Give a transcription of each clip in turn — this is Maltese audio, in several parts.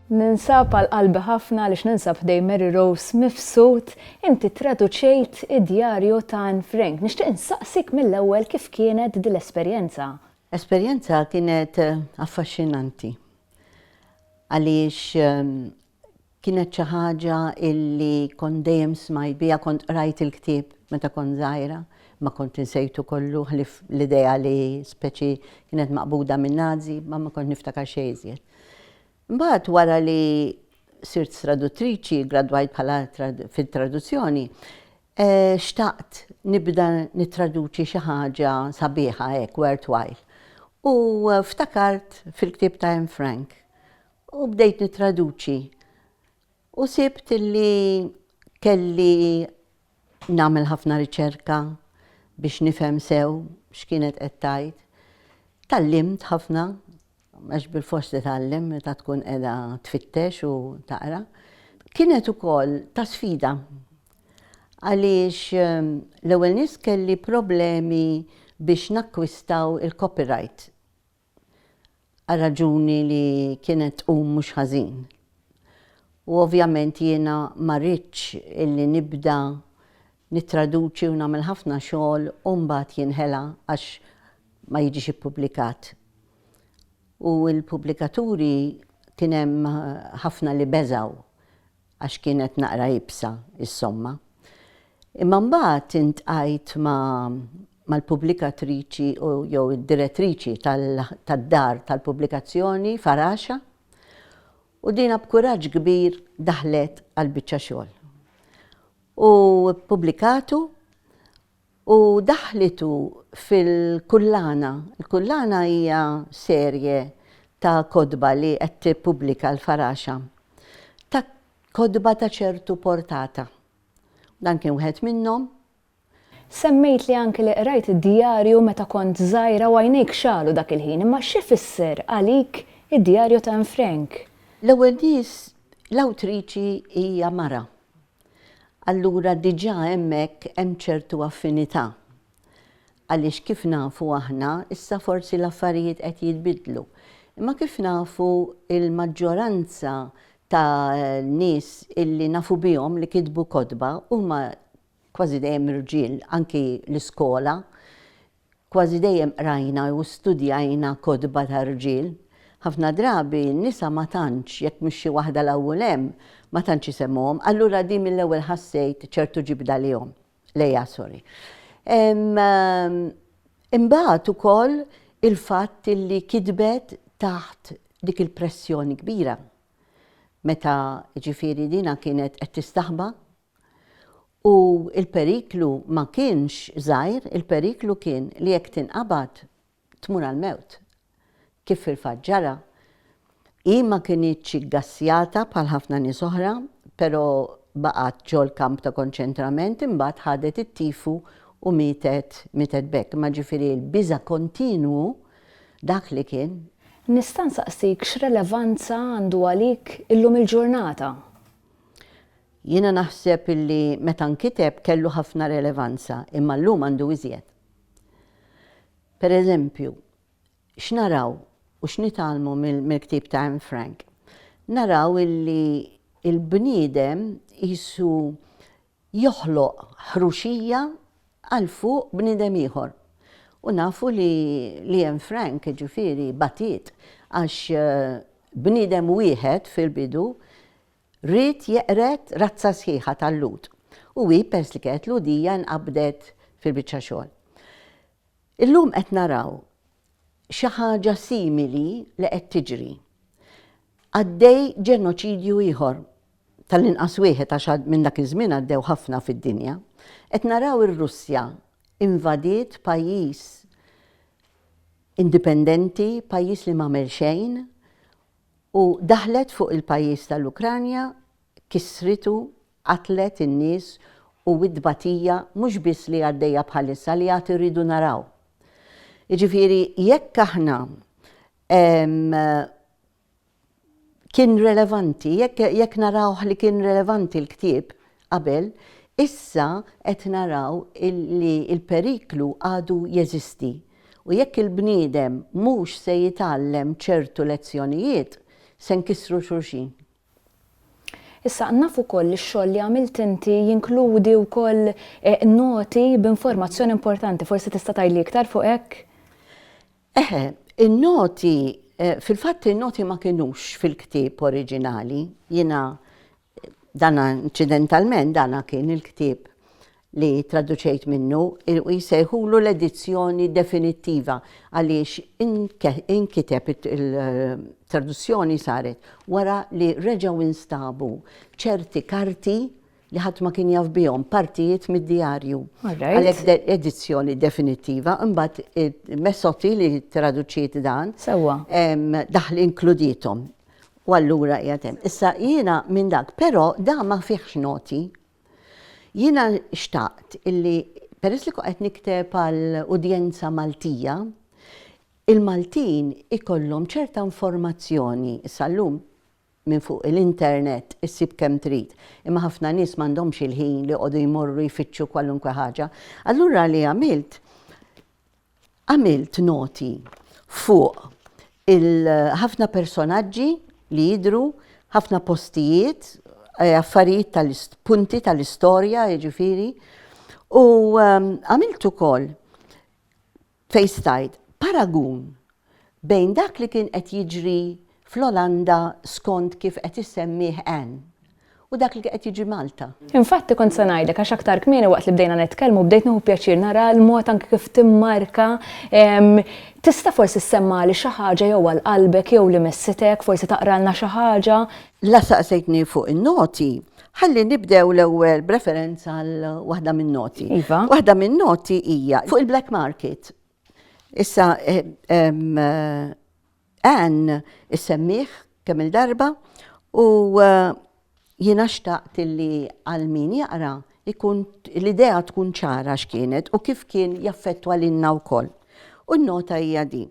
Ninsab għal qalbi ħafna għaliex ninsab ħdej Mary Rose mifsud inti traduċejt id-djarju ta' Anne Frank. Nixtieq insaqsik mill-ewwel kif kienet din l-esperjenza? Esperjenza kienet affaxxinanti. għaliex kienet xi ħaġa illi kont dejjem smajt biha, kont qrajt il-ktieb meta kont żgħira, ma kont insejtu kollu ħlief l-idea li speċi kienet maqbuda min-Nazi, ma ma kont niftakar xejn iżjed. Mbagħad wara li sirt traduttriċi, gradwajt bħala fit-traduzzjoni, Xtaqt nibda nittraduċi xi ħaġa sabiħa hekk worthwhile u ftakart fil-ktieb ta' Anne Frank u bdejt nittraduċi u sibt li kelli nagħmel ħafna riċerka biex nifhem sew x'kienet qed tgħid. Tgħallimt ħafna għax bilfors titgħallem meta tkun qiegħda tfittex u taqra, kienet ukoll ta' sfida għaliex ehm, l-ewwel nies kelli problemi biex nakkwistaw il-copyright għal raġuni li kienet tqum mhux ħażin. U ovvjament jiena ma rridx illi nibda nittraduċi u nagħmel ħafna xogħol u mbagħad jinħela għax ma jiġix ippubblikat. u l-pubblikaturi kien hemm ħafna li beżgħu għax kienet naqra iebsa s-somma. Imma mbagħad intqajt ma' mal-pubblikatriċi u jew id-direttriċi tad-dar tal-pubblikazzjoni Faraxa u dina b'kuraġġ kbir daħlet għall-biċċa xogħol. U ppubblikatu u daħħlitu fil-Kullana. Il-Kullana hija serje ta' kotba li qed tippubblika l-Faraxa, ta' kotba ta' ċertu portata. Dan kien wieħed minnhom. Semmejt li anki li qrajt id-djarju meta kont żgħira u għajnejk xagħlu dak il-ħin, imma x'ifisser għalik id-djarju ta' Anne Frank? L-ewwel nies, l-awtriċi hija mara. allura diġà hemmhekk hemm ċertu affinità. Għaliex kif nafu aħna, issa forsi l-affarijiet qed jitbiddlu, imma kif nafu l-maġġoranza ta' nies illi nafu bihom li kitbu kotba huma kważi dejjem irġiel anki l-iskola Kważi dejjem qrajna jew studjajna kotba ta' rġiel. Ħafna drabi n-nisa ma tantx, jekk mhix xi waħda 'l hawnl hemm, ma tantx isemmuhom, allura din mill-ewwel ħassejt ċertu ġibda lejhom, lejha sorry. Imbagħad ukoll il-fatt illi kitbet taħt dik il-pressjoni kbira meta jiġifieri dinha kienet qed tistaħba U l-periklu ma kienx żgħir, il-periklu kien li jekk tinqabad, tmur għall-mewt. Kif fil-fatt ġara. Hi ma kinitx iggassjata bħal ħafna nies oħra, però baqgħet ġol-kamp ta' konċentrament, imbagħad ħadet it-tifu u mietet, mietet b'hekk. Imma ġifieri l-biża' kontinwu, dak li kien. Nista' nsaqsik x'relevanza għandu għalik illum il-ġurnata? Jiena naħseb illi meta nkiteb kellu ħafna relevanza, imma llum għandu iżjed. Per eżempju, x'naraw u x'nitgħallmu mill-ktieb ta' Anne Frank? Naraw illi l-bniedem qisu joħloq ħruxija għal fuq bniedem ieħor. U nafu li li Anne Frank, jiġifieri, batiet għax bniedem wieħed fil-bidu Ried jeqred razza sħiħa tal-Lhud u hi peress li kienet Lhudija nqabdet fil-biċċa xogħol. Illum qed naraw xi ħaġa simili li qed tiġri. Għaddej ġenoċidju ieħor, tal-inqas wieħed għax minn dak iż-żmien għaddew ħafna fid-dinja. Qed naraw ir-Russja invadiet pajjiż indipendenti, pajjiż li m'għamel xejn, u daħlet fuq il-pajjiż tal-Ukranja, kissritu, qatlet in-nies u t-tbatija mhux biss li għaddejja bħalissa, li għad irridu naraw. Jiġifieri jekk aħna kien relevanti, jekk narawh li kien relevanti l-ktieb, qabel, issa qed naraw li l-periklu għadu jeżisti u jekk il-bniedem mhux se jitgħallem ċertu lezzjonijiet, se nkissru xulxin. Issa, naf ukoll li x-xogħol li għamilt inti jinkludi wkoll noti b'informazzjoni importanti. Forsi tista' tgħidli iktar fuq hekk? Eħe, in-noti, fil-fatt in-noti ma kinux fil-ktieb oriġinali, jiena Dan inċidentalment dan kien il-ktieb li tradduċejt minnu u jsejħulu l-edizzjoni definittiva għaliex inkiteb il-traduzzjoni saret wara li reġgħu nstabu ċerti karti li ħadd ma kien jaf bihom partijiet mid-djarju. Għalhekk edizzjoni definittiva, imbagħad Messotti li traduċiet dan. Sewwa. Daħli inkludietom. U allura qiegħed hemm. Issa jiena minn dak, però da ma fihx noti. Jiena xtaqt illi peress li qed nikteb għal udjenza Maltija, il-Maltin ikollhom ċerta informazzjoni. Issa llum minn fuq l-internet issib kemm trid, imma ħafna nies m'għandhomx il-ħin li joqogħdu jmorru jfittxu kwalunkwe ħaġa. Allura li għamilt, Għamilt noti fuq il-ħafna personaġġi li jidhru, ħafna postijiet, eh, affarijiet tal-punti tal-istorja, jiġifieri, u ehm, għamilt ukoll fejn stajt paragun bejn dak li kien qed jiġri fl-Olanda skont kif qed issemmih Anne u dak li qed jiġri Malta. Infatti kont se ngħidlek għax aktar kmieni waqt li bdejna nitkellmu bdejt nieħu pjaċir nara l-mod anke kif timmarka tista' forsi ssemmagħli xi ħaġa jew għal qalbek jew li messitek forsi taqralna xi ħaġa. La saqsejtni fuq in-noti, ħalli nibdew l-ewwel b'referenza għal waħda min-noti. Iva. Waħda min-noti hija fuq il-black market. Issa Ann issemmieh kemm il-darba u jiena xtaqt li għal min jaqra ikun l-idea tkun ċara x'kienet u kif kien jaffettwa lilna wkoll. U n-nota hija din.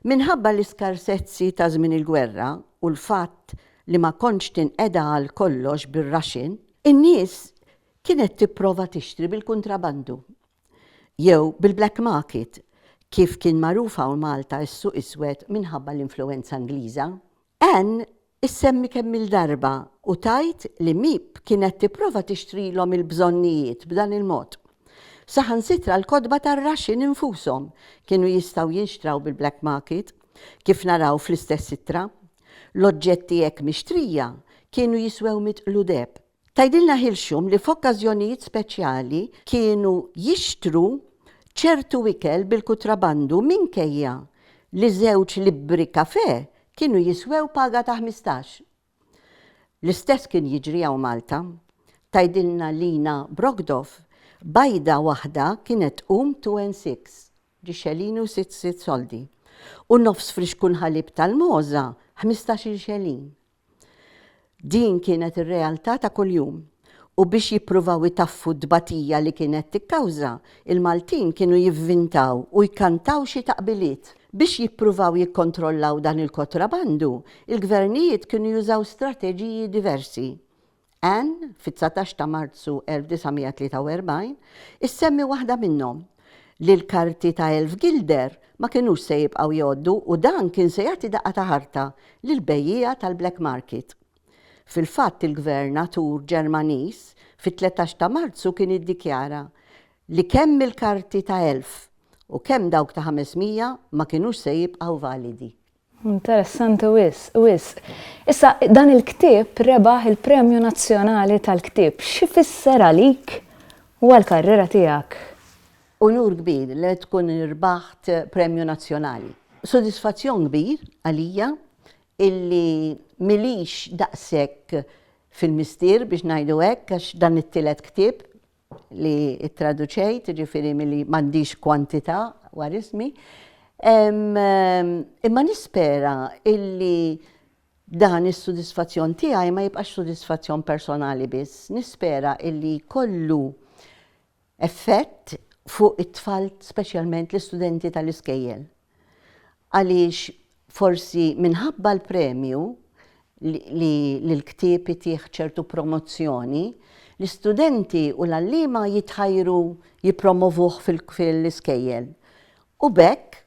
Minħabba l-iskarsezzi ta' żmien il-gwerra u l-fatt li ma kontx tinqeda għal kollox bir-raxin, in-nies kienet tipprova tixtri bil-kuntrabandu jew bil-black market, kif kien magħruf hawn Malta is-suq iswed minħabba l-influwenza Ingliża. Anne issemmi kemm-il darba u tgħid li Miep kienet tipprova tixtrilhom il-bżonnijiet b'dan il-mod. Saħansitra l-kotba tar-raxxin infushom kienu jistgħu jinxtraw bil-black market, kif naraw fl-istess ittra. L-oġġetti hekk mixtrija kienu jiswew mitqlu deheb. Tgħidilna Hilxum li f'okkażjonijiet speċjali kienu jixtru ċertu ikel bil-kutrabandu minkejja li żewġ libbri kafè kienu jiswew paga ta' ħmistax. L-istess kien jiġri hawn Malta. Tgħidilna Lina Brogdov, Bajda waħda kienet tqum two and six, ġi xelini u sitt sitt soldi, u nofs frixkun ħalib tal-mogħża ħmistax-il xelin. Din kienet ir-realtà ta' kuljum u biex jippruvaw itaffu t-tbatija li kienet tikkawża, il-Maltin kienu jivvintaw u jkantaw xi taqbiliet. Biex jippruvaw jikkontrollaw dan il-kotrabandu, il-gvernijiet kienu jużaw strateġiji diversi. Ann, fit-dsatax ta' Marzu 1943, issemmi waħda minnhom, li l-karti ta' elf gilder ma kinux se jibqgħu jgħoddu u dan kien se jagħti daqqa ta' ħarta lill-bejjiegħa tal-black market. Fil-fatt il-Gvern atur Ġermaniż fit-tletax ta' Marzu kien iddikjara li kemm il-karti ta' elf u kemm dawk ta' ħames mija ma kinux se jibqgħu validi. Interessanti wisq, wisq. Issa, dan il-ktieb rebaħ il-Premju Nazzjonali tal-Ktieb. X'ifisser għalik u għall-karriera tiegħek? Unur kbir li tkun rbaħt Premju Nazzjonali. Sodisfazzjon kbir għalija illi m'ilix daqshekk fil-mistier biex ngħidu hekk għax dan it-tielet ktieb li ttraduċejt, jiġifieri milli m'għandix kwantità war ismi. Imma nispera illi dan is-sodisfazzjon tiegħi ma jibqax sodisfazzjon personali biss, nispera illi jkollu effett fuq it-tfal speċjalment l-istudenti tal-iskejjel. Għaliex forsi minħabba l-premju li li l-ktieb itih ċertu promozzjoni, l-istudenti u l-għalliema jitħajru jippromovuh fil-iskejjel. U b'hekk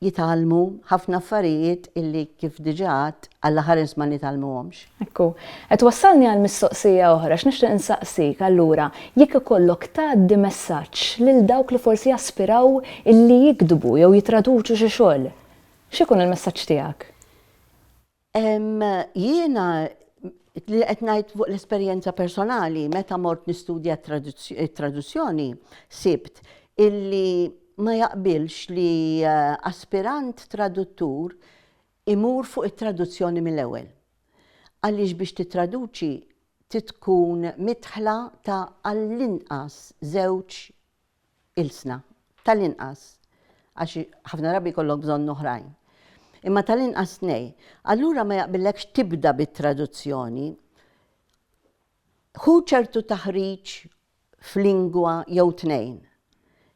jitgħallmu ħafna affarijiet illi kif diġà għadt, Alla ħares ma nitgħallmuhomx. Hekk hu. Qed twassalni għal mistoqsija oħra, għax nixtieq insaqsik, allura, jekk ikollok tgħaddi messaġġ lil dawk li forsi jaspiraw illi jiktbu jew jitraduċu xi xogħol, x'ikun il-messaġġ tiegħek? Jiena li qed ngħid fuq l-esperjenza personali meta mort nistudja t-traduzzjoni sibt illi ma jaqbilx li eh, aspirant traduttur Imur fuq it-traduzzjoni mill-ewwel. Għaliex biex tittraduċi trid tkun midħla ta' għall-inqas żewġ ilsna. Tal-inqas. Għax ħafna drabi jkollok bżonn oħrajn. Imma tal-inqas tnej. Allura ma jaqbillekx tibda bit-traduzzjoni. Ħu ċertu taħriġ f'lingwa jew tnejn.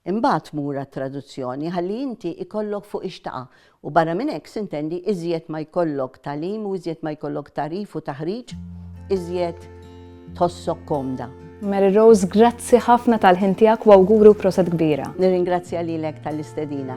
Imbagħad mur għat-traduzzjoni ħalli inti jkollok fuq ix taqa' u barra minn hekk sintendi iżjed ma jkollok tagħlim u iżjed ma jkollok tagħrif u taħriġ iżjed tħossok komda. Mary Rose, grazzi ħafna tal-ħin tiegħek u awguri u proset kbira. Nirringrazzja lilek tal-istedina.